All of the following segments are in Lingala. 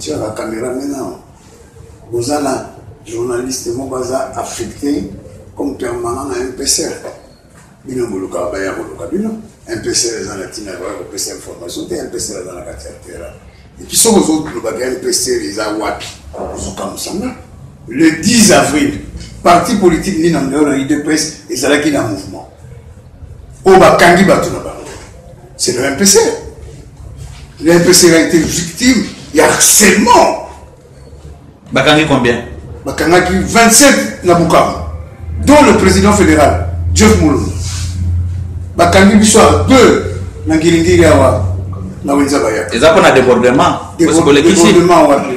kotia ba camera maintenant boza na journaliste moko aza affecté comme permanent na mpsr bino bolukaka baya koluka bino mpsr eza na ntina baya kopesa information te mpsr aza na kati ya terrain epi soki ozolobaka mpsr eza wapi ozokamwisanga le 10 avril parti politique nini na ndeo na udps ezalaki na mouvement oyo bakangi bato na bango c'est le mpc le mpc a été victime ya harcèlement bakangi combien bakangaki 27 na bukavu dont le président fédéral jeff mulongo bakangi biso ya deux na ngiringiri awa na wenza bayaka eza mpo na débordement débordement wapi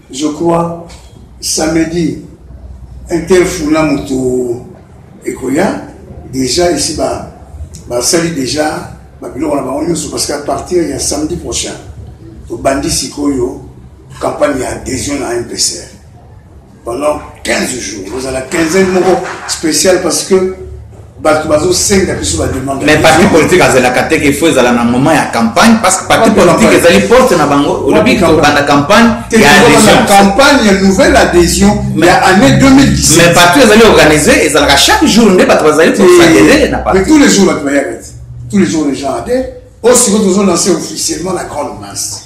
Je crois samedi interfula moto ekoya déjà ici ba basali déjà babiloko na bango nyonso parce qu'à partir ya samedi prochain tobandi sikoyo campagne ya adhésion na mpcr pendant 15 jours ozala quinzaine moko spécial parce que bato bazosenga biso bademande mais parti politique azelaka te ke faut ezala na moment ya campagne parce que parti politique ezali porte na bango olobi tobanda campagne ya adhésion campagne ya nouvelle adhésion ya année 2017 mais parti ezali organisé ezalaka chaque jour nde bato bazali kosadere na parti mais tous les jours bato bayaka te tous les jours les gens adhèrent oyo sikoyo tozolance officiellement na grande masse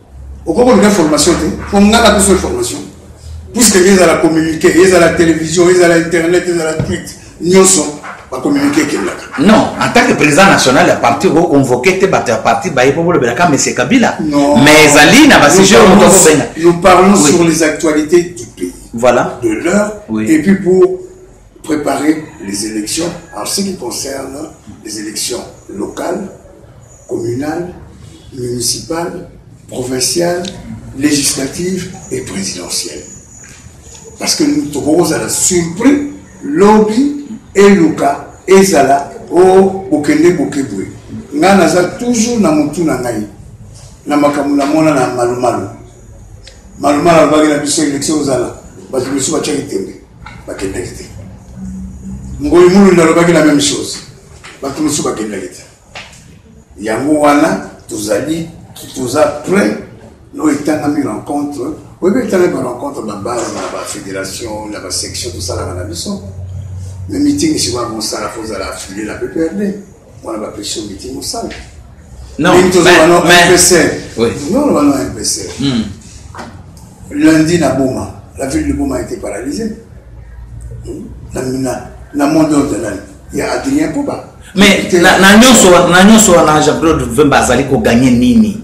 okoki koluka formation te po nga na biso formation puisque ezala communiqué ezala télévision ezala internet ezala tweet nyonso bacommuniqué ekendaka non en tant que président national ya parti okoconvoke te bato ya parti baye mpo bolobelaka monsieur kabila mais ezali na basujet oyo moto akobenga nous parlons oui. sur les actualités du pays voilà de l'heure oui. et puis pour préparer les élections en ce qui concerne les élections locales, communales, municipales, provinciales, législatives et présidentielles. Parce que nous avons à la surprise, lobby et Luka et Zala au oh, Bokele Bokeboué. Nous avons toujours na mutu na ngai na makambo na mona na malumalu malumalu abaki na biso élection ozala bato mosusu batiaki tembe bakendaki te ngoyi mulunda alobaki la même chose bato mosusu bakendaki te yango wana tozali toza prêt no etangami rencontre oyebi etangami rencontre babase na bafédération na basection tosalaka na biso mais meeting sikoya mosala fozala affilié na pprd Wana ba pesi miti musala. Non, mais, mais, oui. Non, non, non, MPC. Hmm. Lundi, na Boma, la ville de Boma a été paralysée. Hmm. Na, na, na monde ordonnance, il y a Adrien Koba. Mais na, na nyonso na nyonso wana Jean-Claude Vemba azali koganye nini?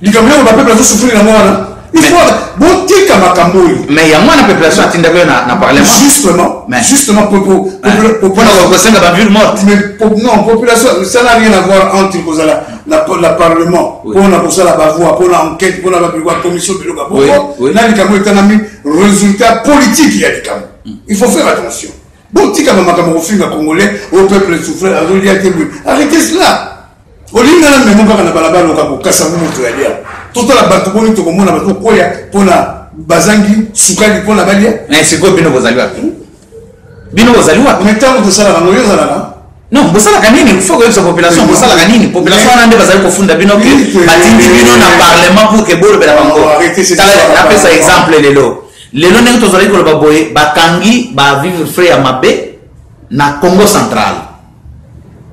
likambo yango bapeuple azosufrire yango wana botika makambo oyo mais yango wana population atindaki yo na parlement justement justement mpona kosenga baville morte non population ça n'a rien à voir entre kozala na parlement mpona kosala bavoi mpona enquête mpona babikwa commission biloko ya bongo na likambo etangami résultat politique ya likambo mm. il faut faire attention botika bamakambo kofinga congolais au peuple souffrir azolia te boye arrêtez cela olingi nga na memo kaka na balabala oka kokasa ngo moto ya lia totala bato boni tokomona bato koya mpo na bazangi sukali mpo na balia na sikoyo bino bozali wapi hmm? bino bozali wapi me ntango tosalaka ngo yo ozalaka non bosalaka nini fo koyebisa population bosalaka nini population wana nde bazali kofunda bino ke batindi bino na parlement pour ke bolobela bango napesa exemple lelo lelo ndenge tozalaki koloba boye bakangi ba vivre frais ya mabe na congo central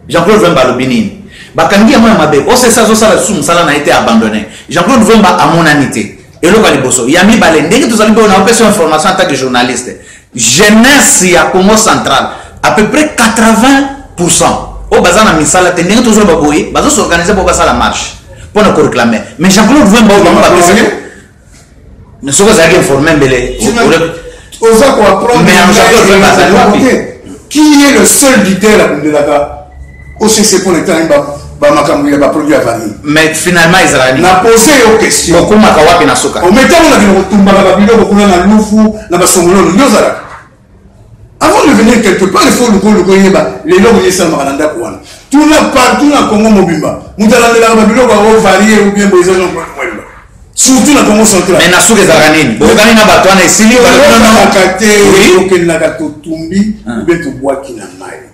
Jean-Claude Vemba alobi nini? Bakangi yango ya mabe. OCC azosala lisusu mosala na ye te abandonne. Jean-Claude Vemba amonani te. Eloko ya liboso. Ya mibale, ndenge tozali mpe na opesa information en tant que journaliste. Jeunesse ya Congo central, à peu près 80% oyo baza na misala te ndenge tozoloba boye bazosorganize mpo basala marche mpo na koreclame mais jean claude vemba oyo bango bapesaki soki ozalaki informe mbele oza ko apprendre qui est le seul leader abundelaka occ mpo na etana ba bamakambo ya baproduit ya vanille mais finalement ezalaka nini napose yo question okomaka wapi na suka ometango na bino kotumbaka babiloko kuna na lufu na basongololo nde ozalaka Avant de venir quelque part, il faut luko luko yeba lelo oye esalamaka na ndako wana. Tuna partout na Congo mobimba. Moto alandelaka babiloko yango varie ou bien boye eza jean claude mwemba. Surtout na Congo central. Mais na suka ezalaka nini? Bokokani na bato wana esili balobaka te okendaka totumbi ah. ou bien tobwaki na mai.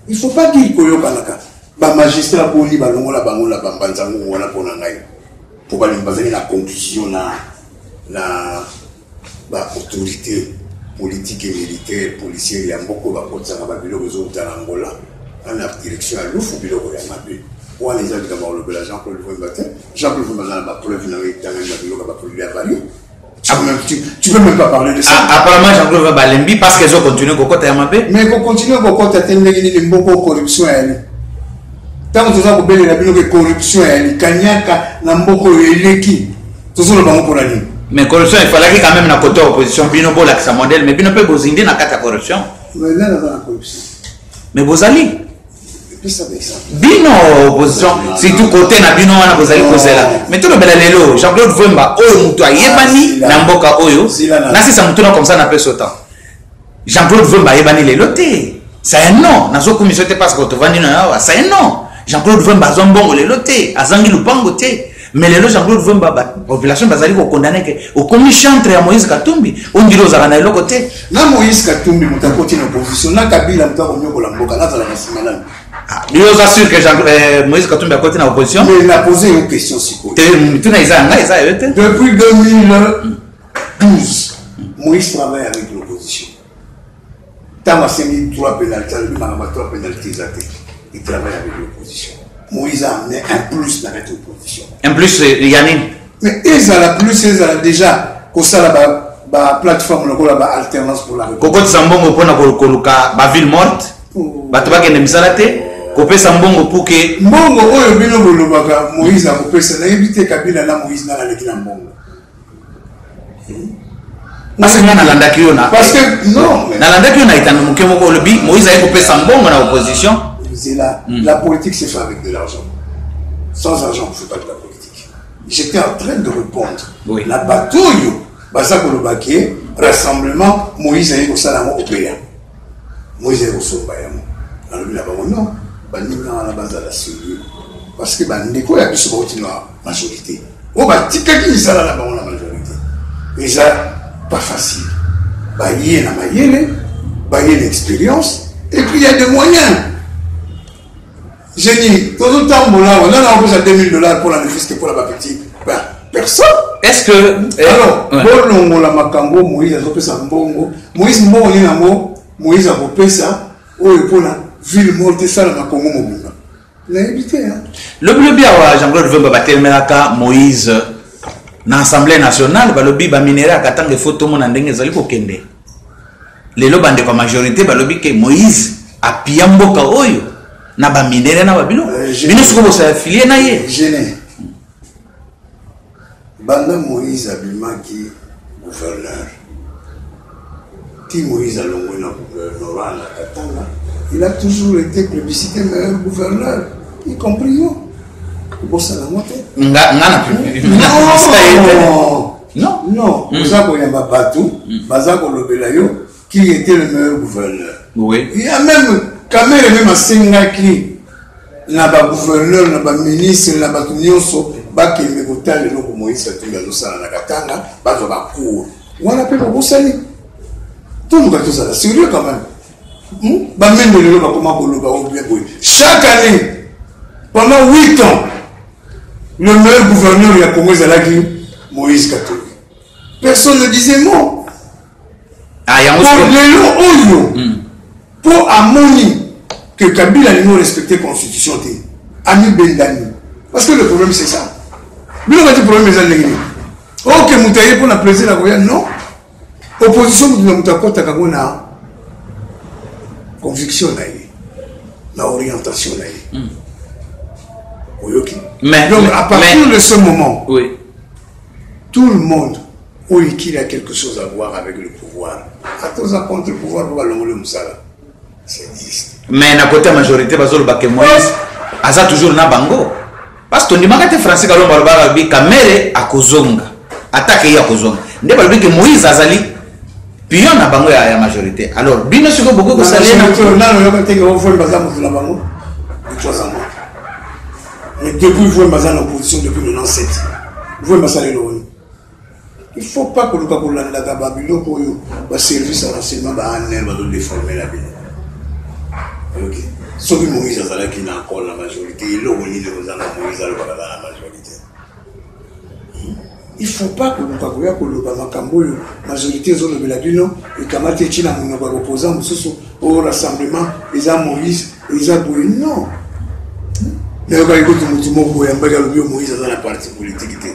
Il faut pas dire koyokanaka. Ba magistrat boni balongola bango na bambanza ngongo wana mpo na ngai. Mpo balingi bazali na conclusion na na ba autorités politiques et militaires policiers ya mboko bakotisaka ba biloko ezouta na Angola ana direction ya lufu biloko ya mabe wana eza likambo kolobela Jean Claude Vemba te Jean Claude Vemba aza na ba preuve na yo etangani na biloko ya ba produits avariés ah, tu, tu peux même pas parler de ça. Ah, apparemment, Jean-Claude va balembi parce qu'ils ont continué kokota ya mabe. Mais ko continuer kokota te ndenge nini mboko corruption ya ni. Tango toza kobelela bino ke corruption ya ni kanyaka na mboko eleki. tozoloba yango mpona nini mais corruption efalaki quand même na kote ya opposition bino bolakisa modele mais bino mpe bozindi na kati ya corruption mais bozali bino opposition surtout kote na bino wana bozali kozela mais tolobela lelo jean claude vemba oyo moto ayebani na mboka oyo nasisa motuna comme ça na peso temps Jean Claude Vemba ayebani lelo te. Ça est non, nazo kumisa te parce que tovandi na yawa. Ça est non. Jean Claude Vemba azwa mbongo lelo te, azangi lupango te. Mais lelo Jean Claude Vemba ba population bazali ko condamner que okomi chantre ya Moïse Katumbi, ondiri ozaka na eloko te. Na Moïse Katumbi mutakoti na opposition, na Kabila mutako nyoko la mboka, na zala na simalami. Ah, yo oza sûr que Jean, euh, Moïse Katumbi akoti na opposition? Mais na poser une question sikoyo. Te mutuna eza ngai eza yo te. Depuis 2000 12 moïse travaille avec l'opposition ntango asengi trois penalti alobi makambo ya trois penalti eza te il travaille avec l'opposition moïse a amené un plus na kati opposition un plus euh, ya nini mais ezala plus ezala déjà kosala ba plateforme lokola ba alternance pour la kokotisa mbongo mpona koluka ba ville morte oh. bato bakende misala te kopesa mbongo puke mbongo oyo bino bolobaka moïse akopesa nayebi te kabila na moïse nana aleki na mbongo parce que nga nalandaki yo na parce que non nalandaki yo na etando moke moko olobi moïse aye kopesa mbongo na opposition zela mm. la politique c'est fait avec de l'argent sans argent on fait pas de la politique j'étais en train de répondre oui. na bato oyo baza koloba ke rassemblement moïse aye kosala yango opela Moise aye kosomba yango nalobi na bango non baninga wana bazala serieux parce que bandeko ya biso bauti na majorité oyo batikaki misala na bango na majorité eza pas facile baye na mayele baye na expérience et puis il y a des moyens J'ai dit, tozo tambola, on a envoyé 2000 dollars pour la manifeste pour la baptiste. Ben, personne. Est-ce que. Eh, Alors, ouais. bolongo la makambo, Moïse a repris sa mbongo. Moïse mbongo ni nango, Moïse a repris ça. Oh, et pour la ville morte, ça, la makongo mobimba. Il a évité, hein. Le bleu bien, Jean-Claude Vemba, Batel Melaka, Moïse, na Assemblée nationale, balobi, ba minera, katang, faut tout le monde en dingue, zali kokende. lelo bandeko ya majorité balobi ke moïse apia mboka oyo na baminere na babino euh, bino sikoyo bosala filie na ye banda moïse abimaki gouverneur ti moïse alongwe na gouvernorat na katanga il a toujours été plébiscité meilleur gouverneur y compris yo kobosana ngo te nga nga na Non, non, mm. oza koyamba bato mm. baza kolobela yo qui était le meilleur gouverneur. Oui. Il y a même Kamere même asengaki na ba gouverneur na ba ministre na bato nyonso bakende kotala eloko Moïse Katumbi azosala na Katanga bazwa ba cours wana mpe bobosani toluka tozala sérieux quand même hmm? bamendo lelo bakoma koloba o bien boye chaque année pendant 8 ans Le meilleur gouverneur ya Congo ezalaki Moïse Katumbi. Personne ne disait mot. Ah, yango pour lelo oyo hmm. mpo amoni que Kabila alingi respecter constitution te amibendani parce que le problème c'est ça bino bati problème eza ndenge nini oke moto aye mpo na plaisir na koya non opposition moto na moto akɔtaka yango na conviction na ye na orientation na ye mm. oyoki donc à partir mais, de ce moment oui. tout le monde oyo qu'il a quelque chose à voir avec le pouvoir ata oza contre le pouvoir po balongoli mosala mais na kote ya majorité bazoloba ke moïse aza toujours na bango parce que tondimaka te français kalombo alobaka alobi kamere akozonga atake ye akozonga nde balobi ke moïse azali pion na bango ya, ya majorité alors bino sikoyo bokoki kosalelaabango mais depuis voye baza na opposition depuis 97 voye basaleli oni Il faut pas koluka kolandaka ba biloko oyo ba service ya renseignement ba ANR bazo deformela bino oyoki soki moïse azalaki na akole na majorité eloko nini kozanga moïse alobaka aza na majorité il faut pas koluka koya koloba makambo oyo majorité ezolobela bino ekamati eti na monoko ya kopoza mosusu o oh, rassemblement eza moïse eza boye non nayokaki kutu motu moko oyambaki alobi yo moïse aza na parti politike te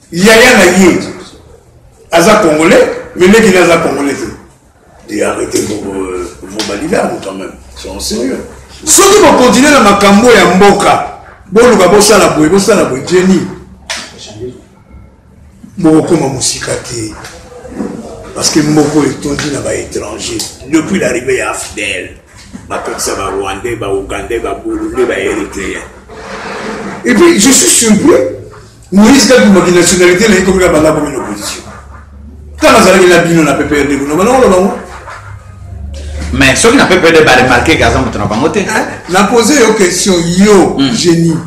Yaya na ye aza congolais mais leki na aza congolais te et arrêtez vos euh, vos balidamu quand même sont sérieux soki bokontinue na makambo ya mboka boluka bosala boye bosala boye jeni bokokoma mosika te parce que mboka oyo etondi na baétranger depuis l'arrivée ya afdel bakotisa barwandais baougandais baburundais baéritréen et puis je suis surpris Moïse kati maki nationalité na ekomi na banda komi na opposition kaka azalaki na bino na ppr de kuna banakolo bango mais soki na ppr de baremarke ke aza moto na bango te eh, na pose yo question yo hmm. génie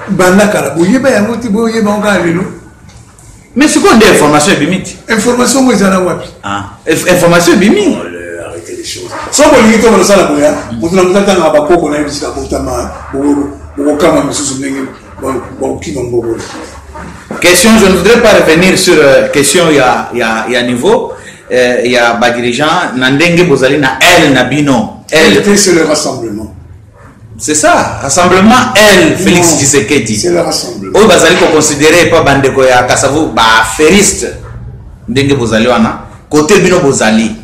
banda kala boyeba yango te boyeba yango kaka lelo mais sikoyo nde information ebimi ti information ngo eza na wapi ah, information ebimi oh, soki bolingi to balosala boya moto na moto atangaka bakoko na ye bisika botama bokokama mosusu ndenge bakokima ngobolo question je ne voudrais pas revenir sur euh, question ya, ya, ya niveau euh, ya badirigeant na ndenge bozali na aile na bino aile c'est le rassemblement C'est ça, rassemblement L, Félix non, Tshisekedi. C'est le rassemblement. Oyo bazali ko considérer pas bandeko ya Kasavu ba feriste. Ndenge bozali wana, côté bino bozali.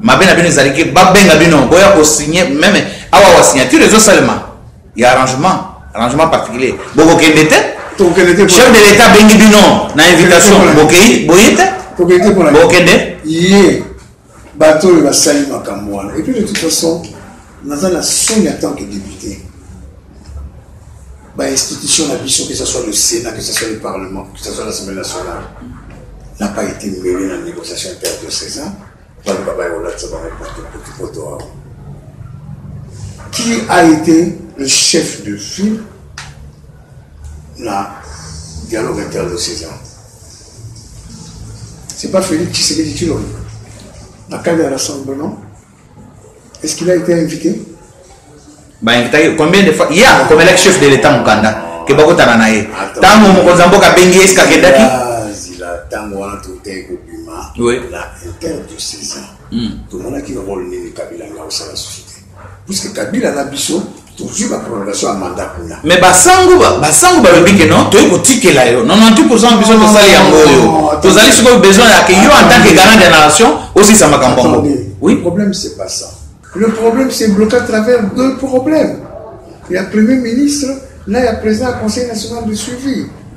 Mabe na bino ezali ke babenga bino boya ko signer même awa wa signature ezo seulement. Il y a arrangement, arrangement particulier. Boko kende te? Chef de l'État bengi bino na invitation bokeyi boyete? Bokende? Ye. bato oyo basali makambo wana epuis de toute façon naza na soni en tant que député bainstitution na biso que ce soit le sénat que ce soit le parlement que ce soit l'assemblée nationale n'a pas été mêlé na négociation interdiocésain baloba bayolatisa bangopoto awa qui a été le chef de file na dialogue interdiocésain C'est pas Félix Tshisekedi Tshilombo, la cadre de rassemblement. Est-ce qu'il a été invité bah, invité, combien de fois Il y a comme le chef de l'État Mukanda, que Bakotana na ye. Tango Mokonza Mboka Bengi est-ce qu'il a été ntango wana totei kobima la interdit saison tomonaki role nini kabila nga osala susu te puisque kabila na biso tozwi ba prolongation ya mandat kuna mais basango basango balobi ke non toyei kotikela yo 98 pourcent biso tosali yango oyo tozali sikoyo besoin ya ke yo en tant que garant de nation osisa makambo yango oui le problème c'est pas ça le problème c'est bloqué à travers deux problèmes ya premier ministre na ya président ya conseil national de suivi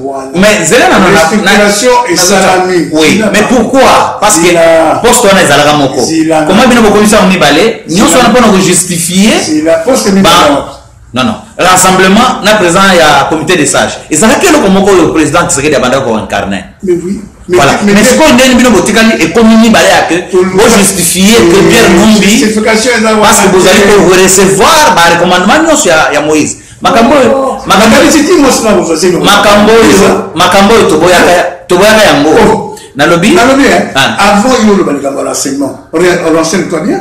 Voilà. Mais zela na na respiration esalami. Oui, mais pourquoi Parce que poste wana ezalaka moko. Comment bino bokomisa yango mibale nyonso wana mpona kojustifie non non rassemblement na président ya comité de sage ezalaki eloko moko oyo président tshisekedi abandaki koincarne voilà mais sikoyo ndeni bino botikali ekomi mibale ya ke bojustifie ke pierre numbi parce que bozali korecevoir barecommandement nyonso ya moïse makambo oyo makambo oyo titi mwasi na kozwa zemi makambo oyo makambo oyo toboyaka toboyaka yango oh. nalobi nalobi eh? ah. avant yo oloba likambo ya renseignement renseigne toi bien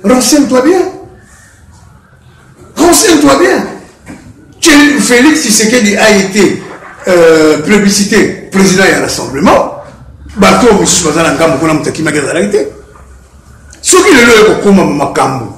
renseigne toi bien renseigne toi bien Félix Tshisekedi a été euh, plébiscité président ya rassemblement bato oyo mosusu baza na ngambo kuna moto akimaki azalaki te soki lelo oyo kokoma makambo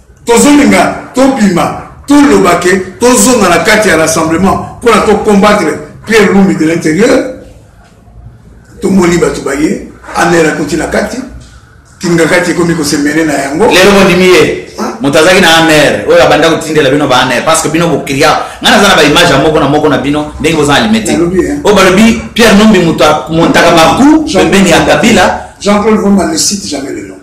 Tozolinga tobima toloba ke tozonga na kati ya rassemblement mpo na to combattre Pierre Lumbi de l'intérieur tomoni bato baye anel akoti na kati kingakati ekomi kosemene na yango lelo bondimi ye moto azalaki na amer oyo abanda kotindela bino ba amer parce que bino bokria ngai naza na baimage ya moko na moko na bino ndenge boza alimete oyo balobi pierre nombi moto amontaka baku pembeni ya kabila jean claude vomba ne cite jamais le nom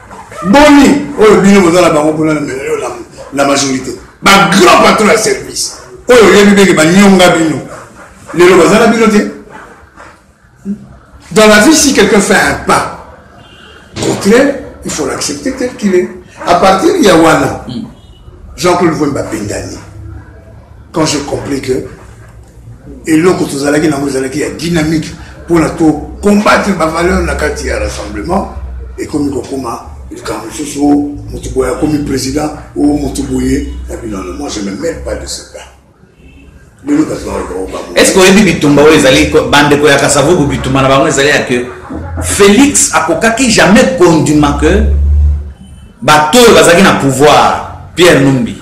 boni oyo bino boza na bango kuna na melelo na majorité ba grand patron ya service oyo oyebi ndenge banyonga bino lelo baza na bino te dans la vie si quelqu'un fait un pas contraire il faut l'accepter tel qu'il est à partir ya wana jean-claude vwemba bendani quand je compris que eloko tozalaki nango ezalaki ya dynamique mpona to combattre bavaleur na kati ya rassemblement ekomi kokoma likambo mosusu o moto boye akomi président o moto boye na binono moi je me mêle pas de ce cas est ce que oyebi bitumba oyo ezali bandeko ya kasavubu bitumba na bango ezali ya que félix akokaki jamais kondima que bato oyo bazalaki na pouvoir pierre numbi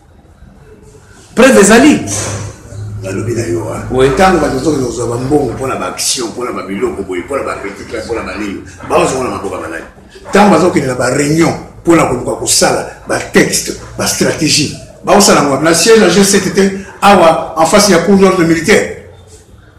preuve ezali nalobi na yo ntango bato bazokende kozwa bambongo mpo na baaction mpo na babiloko boye mpo na bacritique mpo na banini bazongo na maboka malai ntango bazokende na bareunion mpo na koluka kosala batexte bastratégie baosala yango na siège ya g7 te awa en face ya cour d'ordre militaire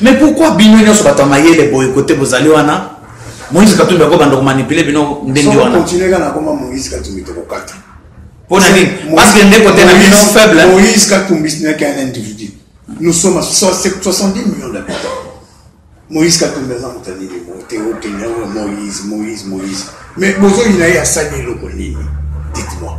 Mais pourquoi bino nyoso bato ya mayele boye kote bozali wana Moïse Katumbi akobanda komanipule bino ndenge wana. Continuer kaka nakoma Moïse Katumbi tokokata. Mpo na nini? Parce que ndeko te na bino faible. Hein? Moïse Katumbi ce n'est qu'un individu. Nous sommes à 70 millions d'habitants. Moïse Katumbi aza moto nini mote okenya oyo Moïse Moïse Moïse. Mais bozoyina ye asali eloko nini? Dites-moi.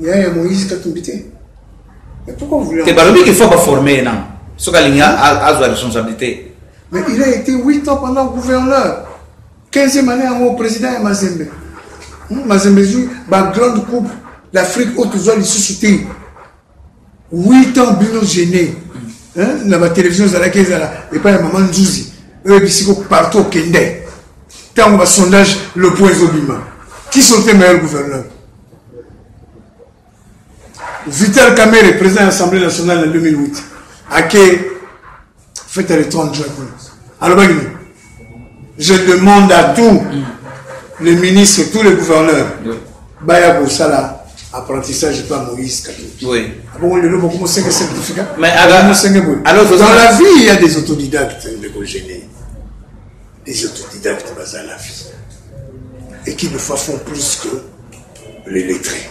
yaya ya moïse katumbi te mais pourquoi vous te balobi qu'il faut baforme ye nano soki alingi azwa responsabilité mais il a été 8 ans pendant gouverneur 15e année yango président ya mazembe hmm, mazembe ezwi bagrande coupe d'afrique oyo tozwa lisusu te 8 ans bino gene na ba télévision ezalaki ezala epai ya mama nzuzi oyo bisiko partout okende ntango ba sondage le point ezobima qui sont les meilleurs gouverneurs vital kamere président ya assemblée nationale na 2008 ake fete ya le 30 juin kuna alobaki nini je demande à tout le ministre tout le gouverneur baya kosala apprentissage epa moïse katoki abongo lelo bokomo senge certificat bokomo senge boye dans la vie il y a des autodidactes ndeko gene des autodidactes baza na vie et qui ne font plus que les lettrés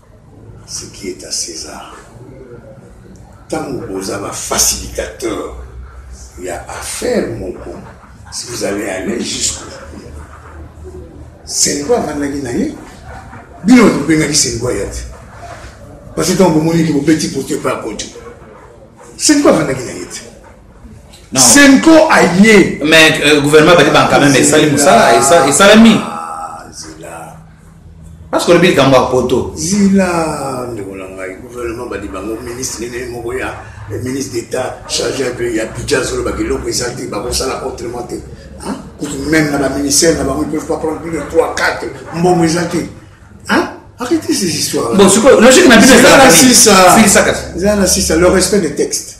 Ce qui est à Cesar tango boza ba facilitateur ya affaire moko si vous allez aller jusqu'au Sengo avandaki na ye bino bato bobengaki Sengo aya te parce que ntango bomoni ete bobeti pote epai ya kojo Sengo avandaki na ye te Senko aye mais euh, gouvernement badi banka meme esali mosala esalami parce que olobi likambo ya poto zila ndeko na ngai gouvernement badi bango ministre nini moko ya ministre d'état chargé un peu ya budget azolobaka eloko eza te bakosala autrement te kutu même na baministère na bango ils peuvent pas prendre plus de 3 4 mbongo eza te arrêtez ces histoires bon sikoyo logique na bino eza na sisa le respect des textes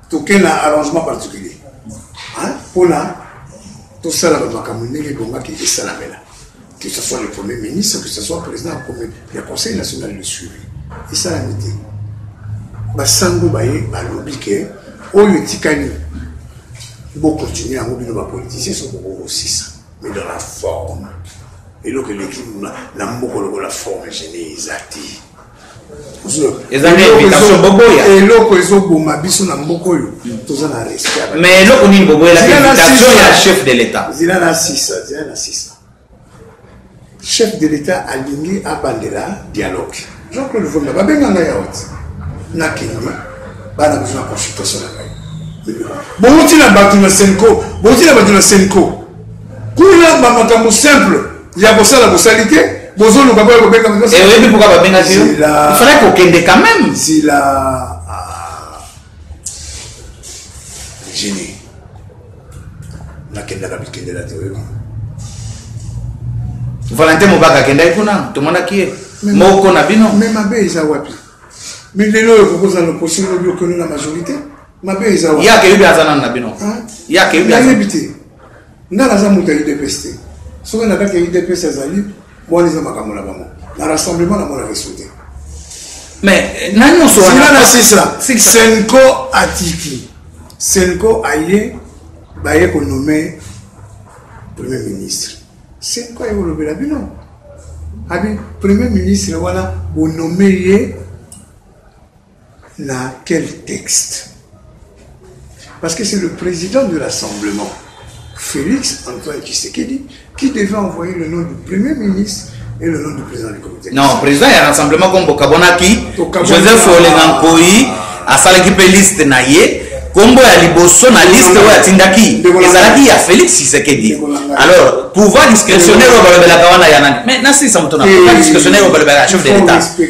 toke na arrangement particulier mpona tosala bamakambo ndenge ebongaki esalamela que ce soit le premier ministre que ce soit président ya conseil national de suivi esalami te basango baye balobi ke oyo etikali bokontinue yango bino bapoliticien so bokokosisa mais dans la forme eloko eleki na mboko lokola forme gene eza te eloko ezoboma biso na mboka oyo toza na respect mais eloko nini boboyelainvitation ya chef de l'état zila na sisa zila na sisa chef de l'état alingi abandela dialogue jean claude vomba babenga ngai ya oti na kenya bana biso na consultation na ngai bouti na bato na senco bouti na bato na senco kuna bamakambo simple ya kosala bosali te bozoluka boya kobenga eh, oyebi pourkua babengaki yo ifalaki kokende quand même zila ah. jini nakendaka bikendela te oyebi valentin mobaka akendaki kuna tomonaki ye moko na bino me mabe eza wapi mi lelo oyo kokozala lokosi lobi okende na majorité mabe eza wapi yake yobi aza nanu na bino yake yobi ayebi te Nga naza mutu ya udps te soki na kati ya udps ezali wana eza makambo na bango na rassemblement na monaka esu te mais na nyonso wana na sisa senko atiki senko aye baye konome premier ministre senko aye kolobela bino abi premier ministre wana bonome ye Na quel texte? Parce que c'est le président du rassemblement, Félix Antoine Tshisekedi, qui devait envoyer le nom du premier ministre et le nom du président du comité. Non, président du rassemblement comme Bokabonaki, Joseph Olengankoi, asalaki pe liste na ye kombo ya liboso na liste oyo atindaki ezalaki ya félix tshisekedi alors pouvoir discrétionnaire oyo balobelaka wana ya nani mais nasilisa moto na pouvoir discrétionnaire oyo balobelaka chef de l'état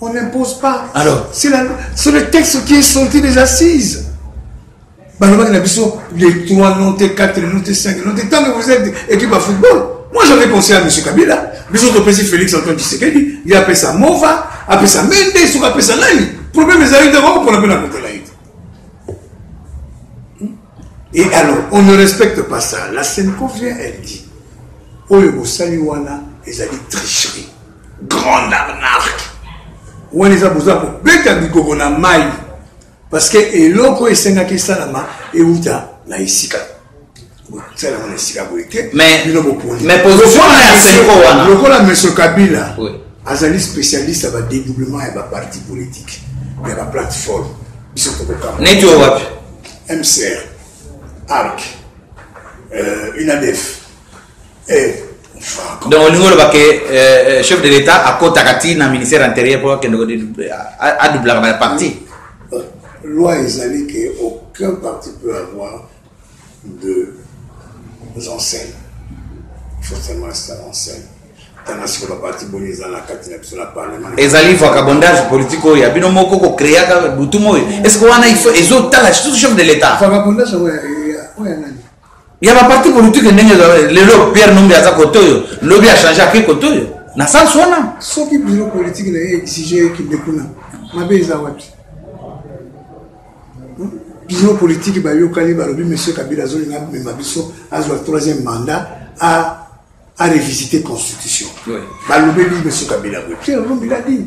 On n'impose pas. Alors C'est le texte qui est sorti des assises. Balobaki na biso les 3 non te 4 non te 5 non te tant que vous êtes équipe à football. Moi j'avais pensé à M. Kabila, biso topesi Félix Antoine Tshisekedi, ye apesa Mova, apesa Mende, soki apesa nani. Problème ezali te koko mpona mpe na kotela ye. Et alors, on ne respecte pas ça. La Senco vient, elle dit, oyo bosali wana ezali tricherie. grande arnaque wana eza boza kobeta bigogo na mai parce que eloko esengaki esalama euta na esika botiala ngo na esika boye te bino bopolilokola monsieur kabila oui. azali spécialiste ya badedoublement ya baparti politique ya baplateforme biso tokokama neti oyo wapi mcr arc euh, unadef eh. donc olingi oloba ke eh, eh, chef de l'état akotaka ti na ministère intérieur mpo akende adoublaka baparti euh, loi ezali ke aucun parti peut avoir de enseignes faut seulement ça enseigne tanga sikoyo baparti boni eza na kati na biso na parlement ezali vacabondage politique oyo ya bino moko kokreaka butu moi est ce que wana ezotala surtout chef de l'état vacabondage oyo ya nani ya ba parti politique ndenge lelo Pierre Numbi aza kote oyo lobi a changer ake kote oyo na sens wana soki biro politique na ye exige ekende kuna mabe eza wapi hmm? biro politique bayokani balobi monsieur kabila azolinga amema biso azwa troisième mandat a a revisiter constitution balobeli monsieur kabila boye pierre lumbi l'a dit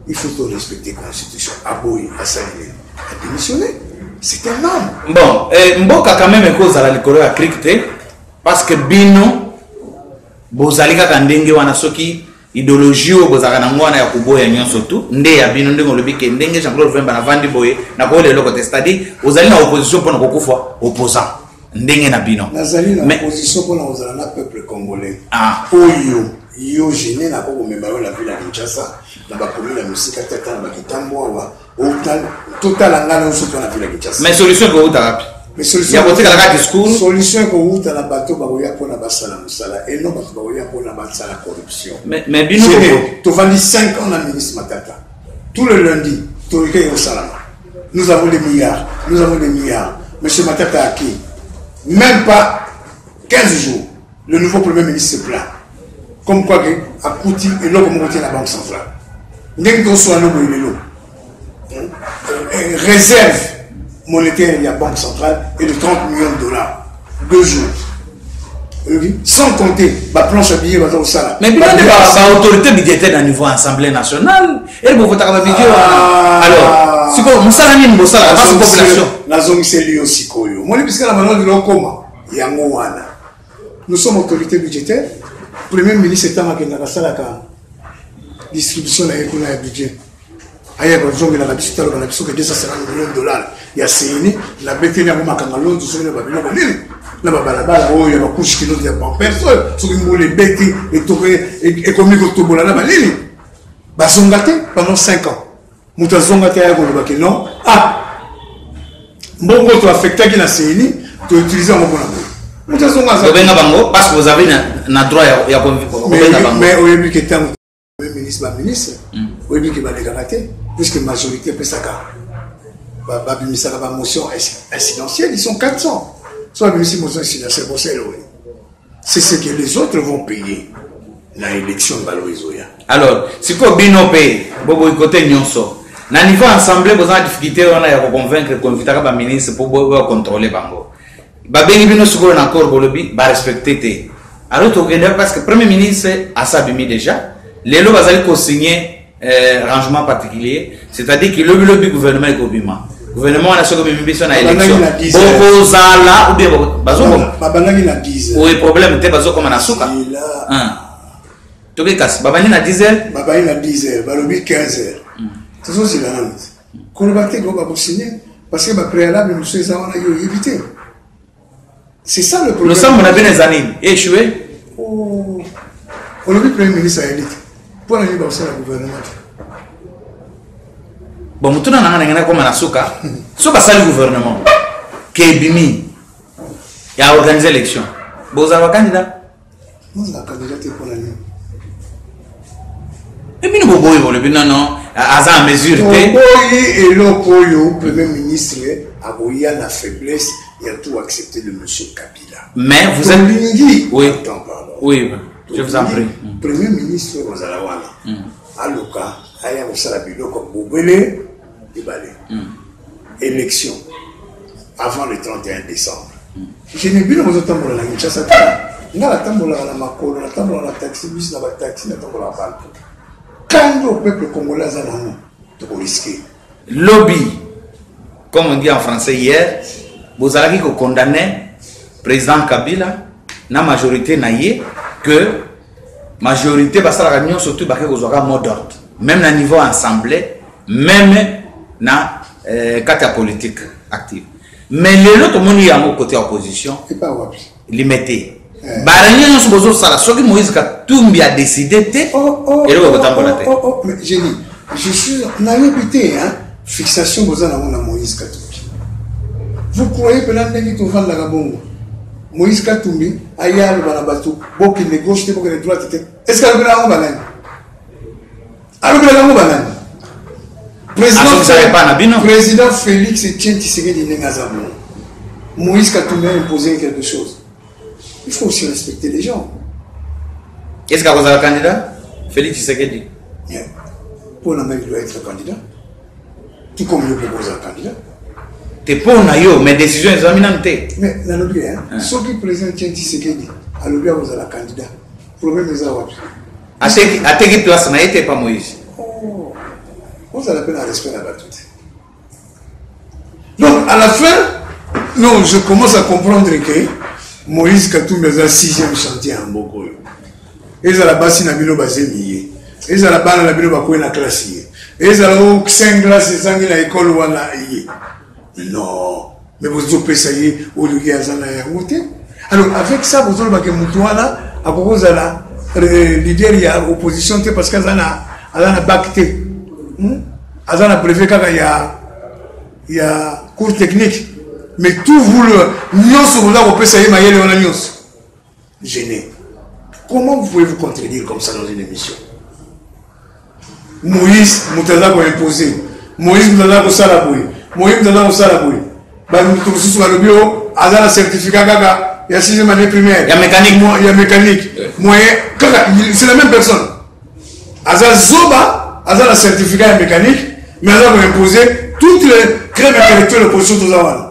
il faut to respecter constitution aboyi asali nini adémissionne c'est un homme bon eh, mboka quand même ekozala likolo ya crike te parce que bino bozali kaka ndenge wana soki ideologie oyo bozalaka nango wana ya koboya nyonso tu nde ya bino ndenge olobi ke ndenge jean claude vemba navandi boye nakoyela eloko te c'est-à-dire ozali na opposition mpo na kokufa opposant ndenge na bino nazali na opposition mpo na kozala na peuple congolais ah. oyo yo gene nako komema yo na ville ya kinshasa na bakomi na mosika te ata na bakitambo awa totala ngai na osoki na vila kinshasa mais solution ekouta wapi ya kotikala kaka discours solution ekouta na bato bakoya mpona basala mosala eno bato bakoya mpona basala corruption mais bino tovandi 5 ans na ministre matata tout le lundi toyike ekosalama nous avons des milliards nous avons des milliards monsieur matata aki même pas 15 jours le nouveau premier ministre se plaint comme quoi que akuti eloko moko te na banque centrale ndenge toswana no boye lelo euh, réserve monétaire ya banque centrale et de 30 millions de dollars deux jours sans compter baplanche ya billet baza kosala mais bino nde baautorité budgétaire na niveau assemblée nationale eye bokotaka babidje wana alors sikoyo mosala nini bosalaka basi population nazongiseli yo sikoyo omoni bisika na bango lilokoma yango wana Nous sommes autorité budgétaire. Premier ministre ntango akendaka asalaka distribution na ye kuna ya budget aya bazongelaka biso taloba na biso ke 250 million dollar ya seini na beteli yango makanga lonzo soki na babiloko nini na babalabala oyo ya bakushe kilo ya pampers oyo soki mbula ebeti ekomi kotobola na banini bazonga te pendant 5 ans moto azonga te aya koloba ke non ah mbongo to affectaki na ceni to utilise yango mpona boye moto azonga azaobenga bango parce que vous avez na, na droit ya kobenga bango mais oyebi ke ntango ministre baministre hmm. oyebi ke balekaka te puisque majorité epesaka babimisaka bamotion incidentielle ils sont 400 so babimisi motion incidentielle bosa elowe C'est ce que les autres vont payer na élection balo ezoya. Alors, siko bino pe bobo ikote nyonso. Na niveau ensemble boza na difficulté wana ya ko convaincre ko invitaka ba ministre pour bo contrôler bango. Ba bengi bino siko na corps bolobi ba respecter te. Alors tokende parce que premier ministre asabimi déjà. Lelo bazali ko signer eh, rangement particulier c'est-à-dire que lobi lobi gouvernement ekobima gouvernement wana soki obimi biso na élection bokozala ou bien bazokoma babandaki na 10 oye problème te bazokoma na suka toke kasi babandi na 10 heures babandi na 10 heures balobi 15 heures hmm. tozozela nano koloba te go bakosigne parce que bapréalable mosusu eza wana yo oyebi te C'est ça le problème. Losambo na bino eza nini? Échoué? Oh. Olobi premier ministre ayebi te. Mpo na nini bakosala gouvernement te? Bon, motuna na ngai nangenda koma na suka. So basali gouvernement. Ke ebimi. Ya organiser élection. Bozala candidat. Mimi na kandida te pona nini? Et bino boboyi bolobi non non aza en mesure te. Boboyi eloko oyo premier ministre akoya na faiblesse il a tout accepté de monsieur Kabila. Mais vous êtes lingi oui. Attends, pardon. Oui, je vous en prie. Mm. Premier ministre Rosalawana. Mm. Aluka aya kosala biloko bobele ebale élection avant le 31 décembre jene bino bozotambola na kinshasa te nga natambolaka na makolo natambolaka na taxi bis na bataxi natambolaka bantu kandi au peuple congolais aza nango tokoriske lobi comme on dit en français hier bozalaki kokondamne président kabila na majorité na ye que majorité basalaka nyonso tu bake kozwaka mot d'ordre même na niveau assemblée meme na euh, kati ya politique active mais lelo tomoni yango côté ya opposition limete eh. barenye nyonso bozosala soki moïse katumbi adécide te oh, oh, eloko oh, ekotambola te génie je suis nayebi te fixation boza nango na moïse katumbi vous croyez pena ndenge tovandaka bongo Moïse Katumbi aye aloba na bato bokende gauche te bokende droite te est ce que alobela yango banani alobela yango banani président félix etienne tshisekedi ndenge aza bongo moïse katumbi imposé quelque chose il faut aussi respecter les gens est ce que akozala candidat félix tshisekedi mpo na ngai doit être candidat ti comme yo moko oza candidat te mpo na yo mais décision ezwami nanu te mais nalobi eh, ah. soki président tien tisekedi alobi akozala candidat problème eza wapi ateki place na ye te pa moïse oh. ozala mpe na respect na bato te donc à la fin non je commence à comprendre que moïse katumbi aza sixième chantier ya mboka oyo ezala basi na bino bazemi ye ezala bana na bino bakwei na klasi ye ezala o saint glace ezangi na ekole wana ye non me bozopesa ye oyo ye aza na yango te alors avec ça bozolobake motu wana akoki kozala euh, leader ya opposition te parce que aza na aza na bak te hmm? aza na brevet kaka ya ya cours technique mais tout vous le nyonso boza kopesa ye mayele wana nyonso gene comment vous pouvez vous contredire comme ça dans une émission moïse moto aza koimpose moïse moto aza kosala boye moïse moto aza kosala boye bamoto mosusu balobi o aza na certificat kaka ya sixième année primaire ya mécanique ya mécanique moyen kaka c'est la même personne aza zoba aza na certificat ya mécanique mais aza koimpose toutes les crèmes intellectuelles opposition toza wana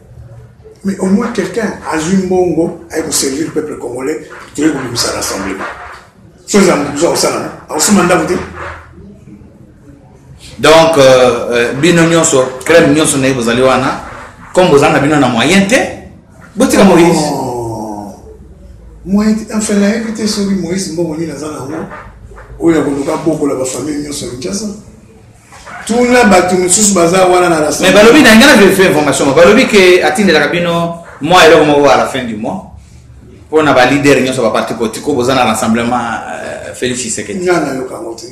mais au moins quelqu'un azwi mbongo aye koservir peuple congolais toye kobimisa rassemblement so eza moto oza kosalana akosomba ndako te donc euh, euh, bino nyonso crème nyonso naye bozali wana comme boza na bino na moyen te botika moïse oh. moyen te enfin nayebi te soki moïse mbongo nini aza na yango oyo ya koluka bokola bafamille nyonso ya kinshasa tuna bato mosusu baza wana na mais balobi na ngai na verifie information mo balobi ke atindelaka bino mwa eloko moko à la fin du mois mpo na balider nyonso baparti politiko boza na rassemblement euh, félix tshisekedi nga nayoka yango te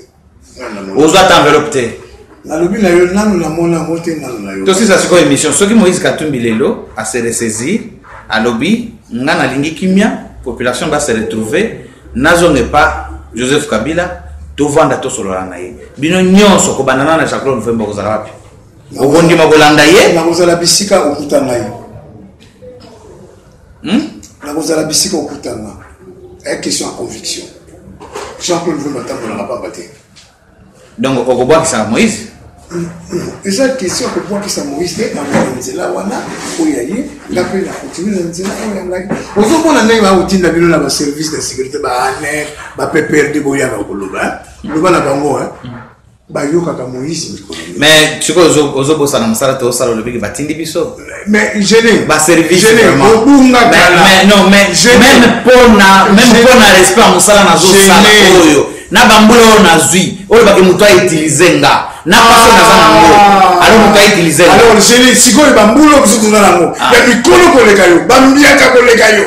ozwa ta enveloppe te nalobi na yo nanu namona yango te nanu na yo tosisa sikoyo émission soki moïse katumbi lelo ase ressaisir alobi nga nalingi kimia population ba se retrouver nazonga epa joseph kabila tovanda tosolola na ye bino nyonso kobanda na na jean claude mfemba kozala wapi okondima kolanda ye nakozala bisika okuta ngai hmm? nakozala bisika okuta nga aya question ya conviction jean claude mfemba atambolaka pamba te donc okobwakisa moïse eza question kobwakisa moïse te aa na nzela wana oyo ya ye nga mpe na continue na nzela oyo ya ngai ozomona ndenge bakotinda bino na baservice de sécurité baaner bappr de boyaka koloba eh? loba na bango eh? bayokaka moïse mikolo mais sikoyo ozobosana mosala te osala olobiki batindi biso mais gêné ba service gêné obunga kala mais non mais même pona même pona respect ya mosala nazo sala oyo na bambula oyo nazwi oyo bake moto autilize nga na paso naza nango ah. alors moto autilize nga alors gêné sikoyo bambula oyo biso nango ah. ya mikolo koleka yo bambiaka koleka yo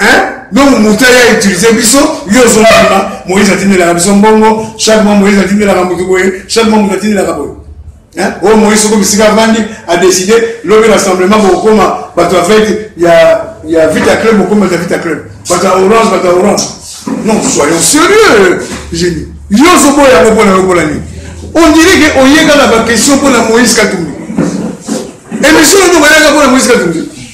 hein donc moto aya utilize biso yo ozondima moïse atindelaka biso mbongo chaque mois moïse atindelaka moto boye chaque mois moto atindelaka boye Hein? Oh, Moïse soko bisika avandi a décidé lobi rassemblement bokokoma bato ya vete ya, ya vita club bokoma bato ya vita club bato ya orange bato ya orange non soyons sérieux génie yo ozoboya yango mpona yo mpona nini on dirait ke oyeka na baquestion mpona moïse katumbi émission oyo bayaka mpona moïse katumbi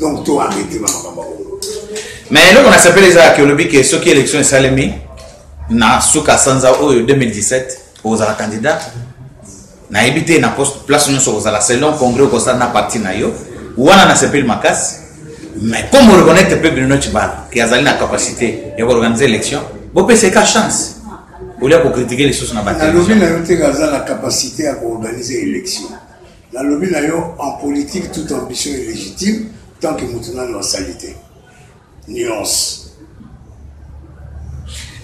donc to arrete ba makambo yango mais eloko nasepeli eza yake olobi ke soki élection esalemi na suka sanza oyo 2017 ozala candidat nayebi te na place nyonso kozala selon congrès okosala na parti na yo wana nasepeli makasi mais comme oreconnaitre mpe bruno cibala ke azali na capacité ya koorganize élection bopesa eka chance olia kokritike lisusu na batalobi na yo te aza na capacité ya koorganize élection Nalobi na yo en politique toute ambition est légitime tant que moto nano asali te. Nuance.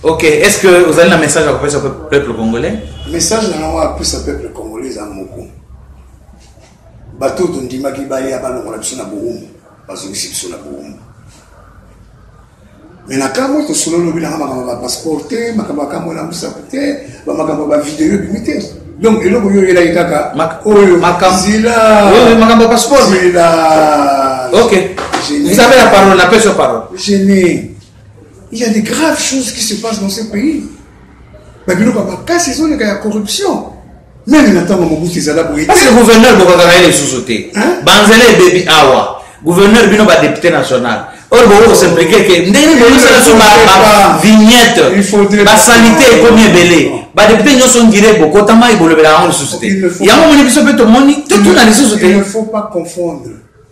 Ok, est-ce que vous avez un message à passer au peuple congolais Message na ngai plus au peuple congolais eza moko. Bato tondimaki baya balongola biso na boumbu, bazongisi biso na boumbu. Mais na kamwe tosolo lobi na makambo ba passeport te, makambo ya kamwe na musaku te, ba makambo ba video bimi te. Donc eloko yo yela kaka oyo makambo zila. Oui, makambo passeport. Zila. OK. Vous avez la parole, la pêche parole. Je n'ai il y a des graves choses qui se passent dans ce pays. ba biloko ya makasi ezoleka ya corruption meme na ntango mobutu ezala boye parce que gouverneur bokaka na ye lisusu te banzela ebebi awa gouverneur bino badepute national oyo bokoki kosimplike ke ndenge boyosala so bavignette basalite ekomi ebele badepute nyonso ngire bokotama ebolobela yango lisusu te yango omoni biso mpe tomoni totuna lisusu te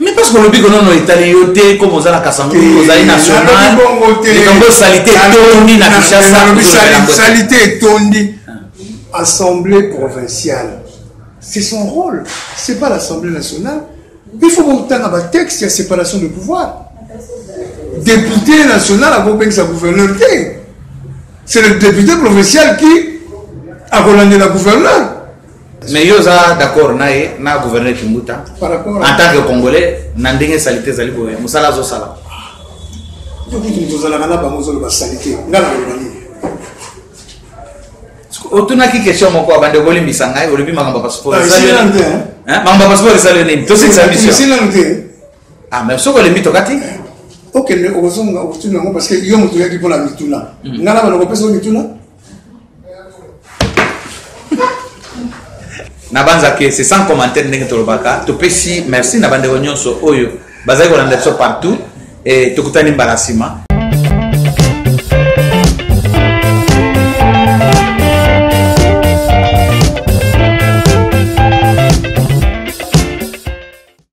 Mais parce que olobi konono etali yo te comme oza na kasango ozali nationallikambo salite etondi na kinshasasalité etondi assemblée provinciale c'est son rôle c'est pas l'assemblée nationale il faut botanga batexte ya séparation de pouvoir député national akopekisa gouverneur te c'est le député provincial qui akolandela gouverneur mais yo oza d'accord na ye na gouverneur kimbuta en tant que congolais na ndenge salite ezali boye mosala azosala tozalaka na bango ozoloba salite nga naloba nini otunaki question moko abande okolimbisa ngai olobi makambo ya passeport makambo ya passeport esali yo nini tosilisa mission ah mais soki olembi tokati okende okozonga okotuna yango parce que yo moto oyaki mpona mituna ngai na bana kopesa yo mituna nabanza ke c'est sans commentaire ndenge tolobaka topesi merci na bandeko nyonso oyo bazali kolanda biso partout e tokutani mbala nsima